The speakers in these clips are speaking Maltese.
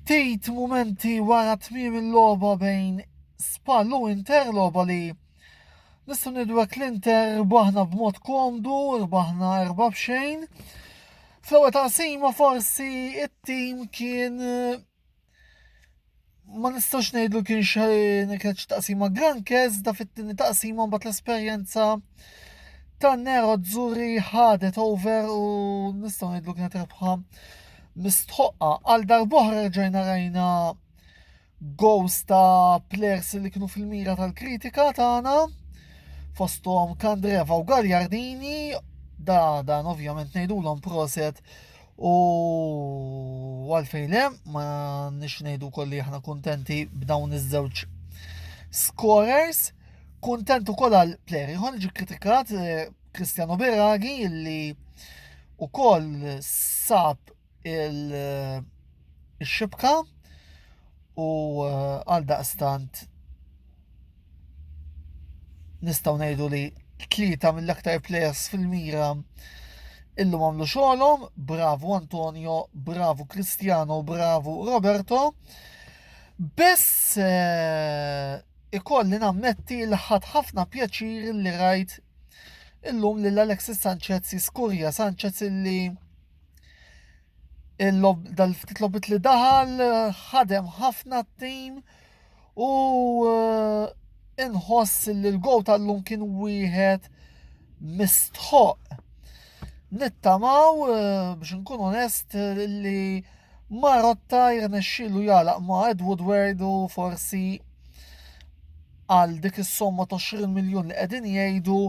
Ftit mumenti wara tmiem il-logħba bejn Spal u Inter, logħba li nistgħu nidwek l-Inter rbaħna b'mod komdu, rbaħna erba' b'xejn. Fl-ewwel taqsima forsi it-tim kien ma nistax ngħidu kien xejn kienet xi taqsima grankez da fit-tieni taqsima mbagħad l-esperjenza ta' Nero Zuri ħadet over u nistgħu ngħidu kienet rebħa mistħoqqa għal darbohra rġajna rajna gows ta' players li kienu fil-mira tal-kritika tagħna fosthom Kandreva u Gagliardini da dan ovvjament ngħidulhom proset U għalfejn le, ma nix ngħidu kolli aħna kuntenti b'dawn iż-żewġ scorers. Kuntenti wkoll għal player ieħor ġi kritikat eh, Cristiano Beragi li wkoll sab il-xibka eh, u eh, għal daqstant nistgħu ngħidu li tlieta mill-aktar players fil-mira illum għamlu xogħolhom, bravu Antonio, bravu Cristiano, bravu Roberto. Biss eh, ikolli nammetti li ħadd ħafna pjaċir li rajt illum lil Alexis Sanchez jiskurja Sanchez illi Il-logħb dal-ftit logħbiet li daħal ħadem ħafna t-tim u inħoss li l-gow tal-lum kien wieħed mistħoq. Nittamaw biex nkun onest li Marotta jirnexxilu jalaq ma' Ed Woodward u forsi għal dik is-somma ta' 20 miljun li qegħdin jgħidu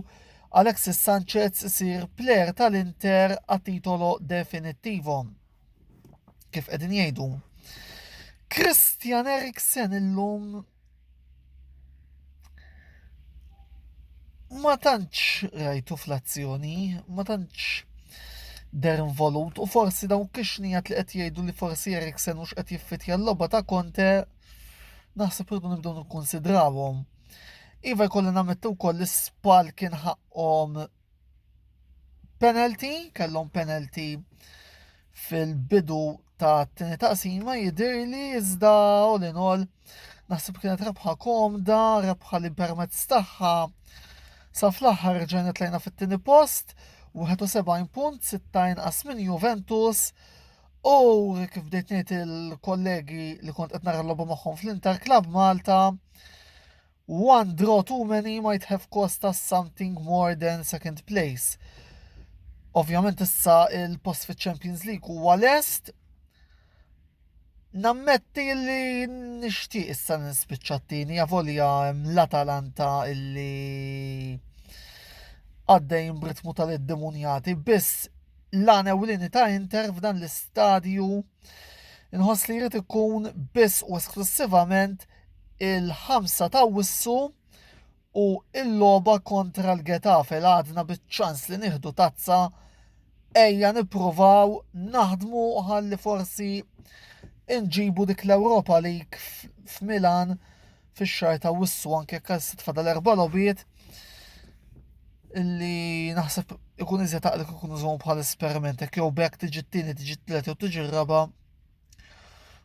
Alexis Sanchez isir plejer tal-Inter a titolo definittivo. Kif qegħdin jgħidu. Christian Eriksen illum ma tantx rajtu fl-azzjoni, ma tantx der involut u forsi dawn kixnijat li qed jgħidu li forsi Eriksen mhux qed jiffitja l-logħba ta' Conte naħseb irdu nibdew nikkonsidrawhom. Iva jkolli nammettu wkoll li spal kien ħaqqhom penalty, kellhom penalty fil-bidu ta' t-tini taqsima jidir li iżda u li nol naħseb kienet rebħa komda, rebħa li permezz tagħha sa fl-aħħar ġejna tlejna fit-tieni post, 71 punt, 60 inqas minn Juventus, u kif bdejt ngħid il-kollegi li kont qed nara l-logħba magħhom fl-Inter Club Malta, One draw too many might have cost us something more than second place. Ovvjament issa il-post fi Champions League huwa lest. Nammetti li nixtieq issa nispiċċa t-tieni, avolja l-Atalanta illi għaddejn b'ritmu tal-iddemunjati, biss l-għana ewlieni ta' Inter f'dan l-istadju Inħoss li jrid ikun biss u esklussivament il-ħamsa ta' wissu u il-logħba kontra l-Getafe l għadna biċ-ċans li nieħdu tazza ejja nippruvaw naħdmu ħalli forsi inġibu dik l-Ewropa League f'Milan fix-xahar ta' wissu anke jekk għal fadal erba' logħbiet illi naħseb ikun iżjed taqlek ikun użhom bħal esperiment hekk jew bekk tiġi t-tieni tiġi t-tliet jew tiġi r-raba'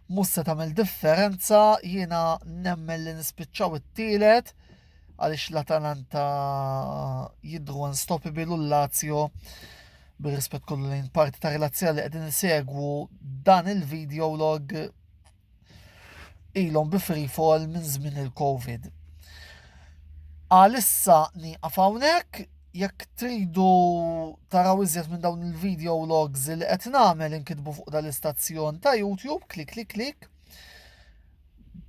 mhux se tagħmel differenza jiena nemmen li nispiċċaw it-tielet għaliex l-Atalanta jidru unstoppable u l-Lazio bir-rispett kollu lejn parti ta' relazzja li qegħdin insegwu dan il-video log ilhom bi free fall minn żmien il-Covid. Għalissa nieqaf hawnhekk, jekk tridu taraw iżjed minn dawn il-video logs li qed nagħmel inkitbu fuq dal-istazzjon ta' YouTube, klik klik klik.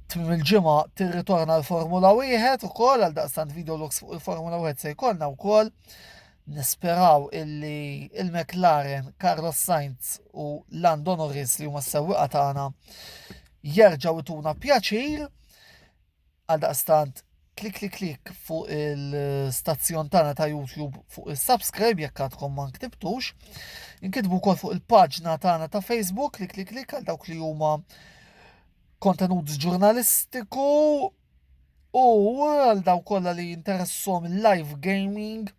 Tmim il-ġimgħa tirritorna l-Formula 1 ukoll għal daqstant video logs fuq il-Formula 1 se jkollna wkoll. Nisperaw illi il-McLaren, Carlos Sainz u Lando Norris li huma s-sewwieqa tagħna jerġgħu ituna pjaċir għal daqstant klik klik klik fuq il-stazzjon tagħna ta' YouTube fuq il-subscribe jekk għadkom ma nktibtux. Inkitbu wkoll fuq il-paġna tagħna ta' Facebook klik klik klik għal dawk li huma kontenut ġurnalistiku U għal daw kollha li jinteressom live gaming,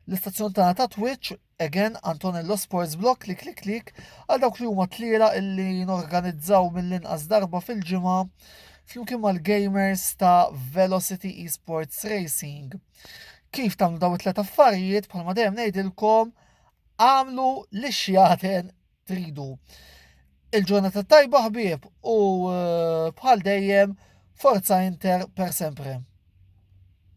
l-istazzjon tagħna ta' Twitch, again Antonello Sports Block, klik klik klik, għal dawk li huma tliela illi norganizzaw mill-inqas darba fil-ġimgħa flimkien mal-gamers ta' Velocity Esports Racing. Kif tagħmlu daw it-tlet affarijiet bħalma dejjem ngħidilkom għamlu li xjaten tridu. Il-ġurnata tajba ħbieb u eh, bħal dejjem forza Inter per sempre.